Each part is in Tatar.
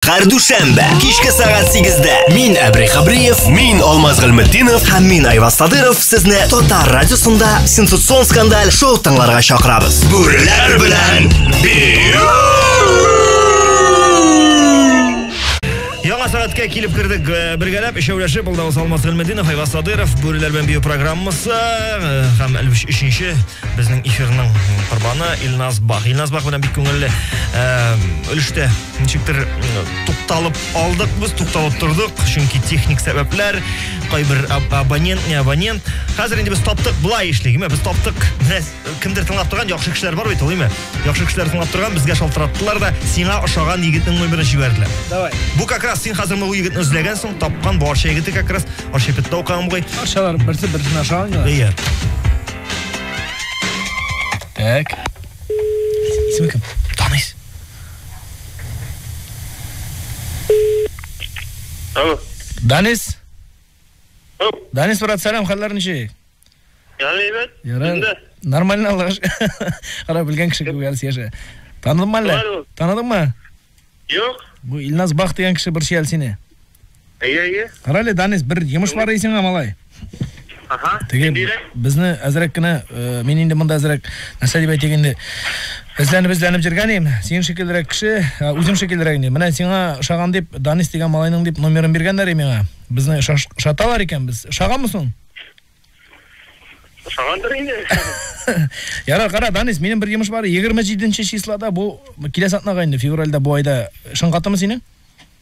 Һәр дүшәмбе кичке сәгать 8-дә мин Әбри Хабриев, мин Алмаз Гыйлметдинов һәм мин Айваз Садыров сезне Татар радиосында сенсацион скандаль шоу тыңларга чакырабыз. Бүреләр белән бию! Яңа сәгатькә килеп кердек э, бергәләп, өчәүләшеп, ул да Усал Масгылмединов, Айва Садыров, Бүреләр белән бию программасы э, һәм әлбәттә өченче безнең эфирның корбаны Илназ Бах. Илназ Бах белән бик күңелле э, өлештә Ничектер тукталып алдык без, тукталып тордык, чөнки техник сәбәпләр, кайбер абонент, не абонент. Хәзер инде без таптык, былай эшлик, без таптык. Менә кемдер тыңлап торган яхшы кешеләр бар бит, улыймы? Яхшы кешеләр тыңлап торган, безгә шалтыраттылар да, сиңа ошаган егетнең номерын җибәрделәр. Давай. Бу как раз син хәзер моны егетне эзләгәнсең, тапкан бу Арча егете как раз, Арча петта укыган бугай. Арчалар берсе берсенә ошаган. Иә. Так. Исеме кем? Алло. Данис. Алло. Данис, брат, сәлам, хәлләр ничек? Ярый, әйбәт. Ярый. Нормально, Аллаһ. Кара белгән кеше күп әлс яшә. Таныдыңмы әллә? Таныдыңмы? Юк. Бу Илназ Бах дигән кеше борчый әле сине. Әйе, әйе. Карале, Данис, бер йомыш бар исеңә, малай. Ага. Теге безне әзрәк кенә, э, мин инде монда әзрәк нәрсә дип әйтик инде. Эзләнеп эзләнеп җиргәнем, син шикеллерәк кеше, э, үзем шикеллерәк инде. Менә сиңа шаган дип Данис дигән малайның дип номерын биргәннәр и миңа. Безне шаталар икән без. Шаганмы соң? Шагандыр инде. Яра, кара, Данис, минем бер йомыш бар. 27 числода бу киләсе атнага инде февральдә бу айда шыңгатымы синең?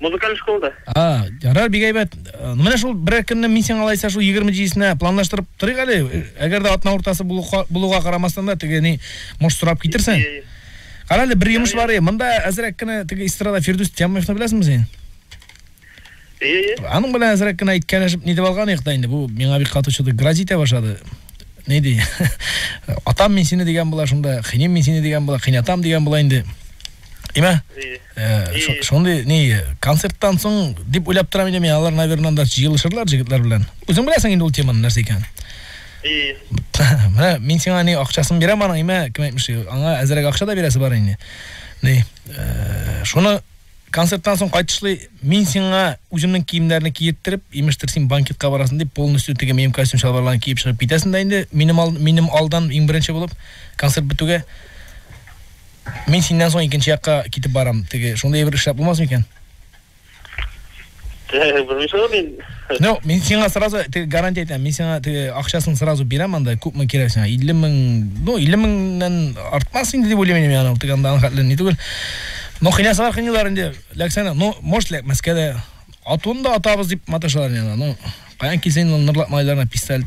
Музыкаль школада. А, ярар, бик әйбәт. Э, менә шул берәр көнне мин сиңа алайса шул 27-сенә планлаштырып торыйк әле. Э, әгәр дә атна уртасы булуга карамастан да теге ни муш сорап китерсең. Кара әле, бер йомыш бар. Монда әзрәк кенә теге эстрада Фирдүс Тямовны беләсеңме син? Ие, Аның белән әзрәк кенә иткәнешеп нидеп алган идек та инде. Бу миңа бик кату чыды. Грозить башлады. Ни ди? Атам мин сине дигән була шунда, хинем мин сине дигән була, хинатам дигән була инде. Имә? Ие. Э, шундый ни концерттан соң дип уйлап торам инде мин алар наверное анда җыелышырлар җегетләр белән үзең беләсең инде ул теманы нәрсә икән и менә мин сиңа ни акчасын бирәм аның имә кем әйтмешли аңа әзерәк акча да бирәсе бар инде ни э, шуны концерттан соң кайтышлый мин сиңа үземнең киемнәрне киеттереп имештер син банкетка барасың дип полностью теге минем костюм чалбарларын киеп чыгып китәсең дә инде минем, ал, минем алдан иң беренче булып концерт бетүгә Мин синнән соң икенче якка китеп барам. Теге шундый бер эшләп булмас микән? Белмисең мин. Ну, мин сиңа сразу теге гарантия әйтәм. Мин сиңа теге акчасын сразу бирәм анда, күпме кирәк сиңа? 50 мең, ну, 50 меңнән артмас инде дип уйлыйм мин аны, теге анда хәтле ни түгел. Ну, хинасы бар хинилар инде. Ләксәне, ну, может, ләкмәскә дә. Атуын да атабыз дип маташалар инде. Ну, каян килсен ул нырлап малайларына пистолет.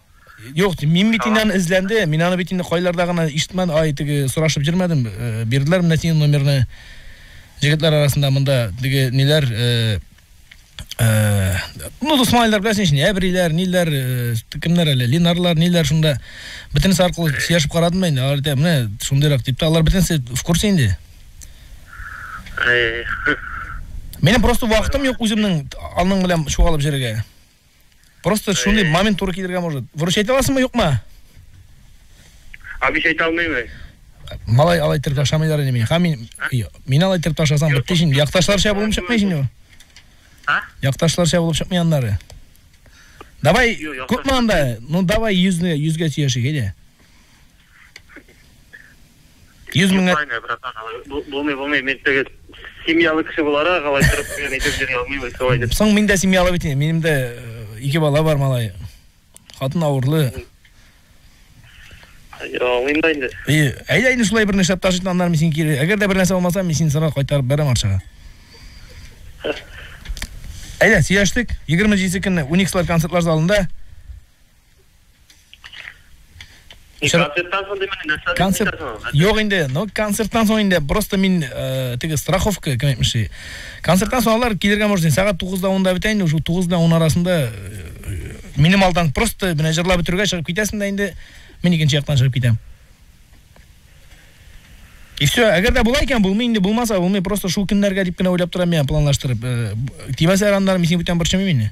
Юк, мин бит инде аны эзләнде. Мин аны бит инде кайларда гына ишетмәдем. Ай, теге сорашып йөрмәдем. Э, бирделәр менә синең номерны. Җегетләр арасында монда теге ниләр э, э, ну, дусмайлар беләсең шуны, әбриләр, ниләр, кемнәр әле, линарлар, ниләр шунда. Бөтенесе аркылы сөйләшеп карадым инде. Алар әйтә, менә шундыйрак дип, алар бөтенесе в курсе инде. Менә просто вакытым юк үземнең аның белән чуалып җиргә. Просто шундый э. момент туры килергә может. Выручать аласыңмы, юкмы? Абиш әйтә алмыймы? Малай алай итеп ташламыйлар инде мине. Ха мин мин алай итеп ташласам бетте шин. Якташларча булып чыкмый шин. А? Якташларча булып чыкмый аннары. Давай, күпме анда? Ну давай 100 ны 100 гә сөйләшик, әйдә. Йөз меңгә... Юкайны, братан, булмый, булмый, мин теге семьялы кеше буларак, алай торып, мин әйтеп йөри алмыйм, солай дип. Соң мин дә семьялы бит, минем дә э, ике бала бар, малай. Хатын авырлы. Алмыйм да инде. И, әйдә инде шулай бер нәрсә ташыйт, аннан мин син кире. Әгәр дә бер нәрсә булмаса, мин син сара кайтарып бәрәм арчага. Әйдә, сөйләштек. 27 көнне Уникслар концертлар залында. Концерттан соң димени нәрсә концерт Юк инде, ну концерттан соң инде просто мин э, теге страховка кем әйтмешли. Концерттан соң алар килергә может инде сәгать 9-да 10-да бетә инде, уже 9 да 10 арасында э, минем алдан просто менә җырлап бетерүгә чыгып китәсең дә инде мин икенче яктан чыгып китәм. И все, әгәр дә була икән, булмый инде, булмаса булмый, просто шул көннәргә дип кенә уйлап торам я планлаштырып. Э, Тибәсә араннар мин синең бүтән борчымыйм инде.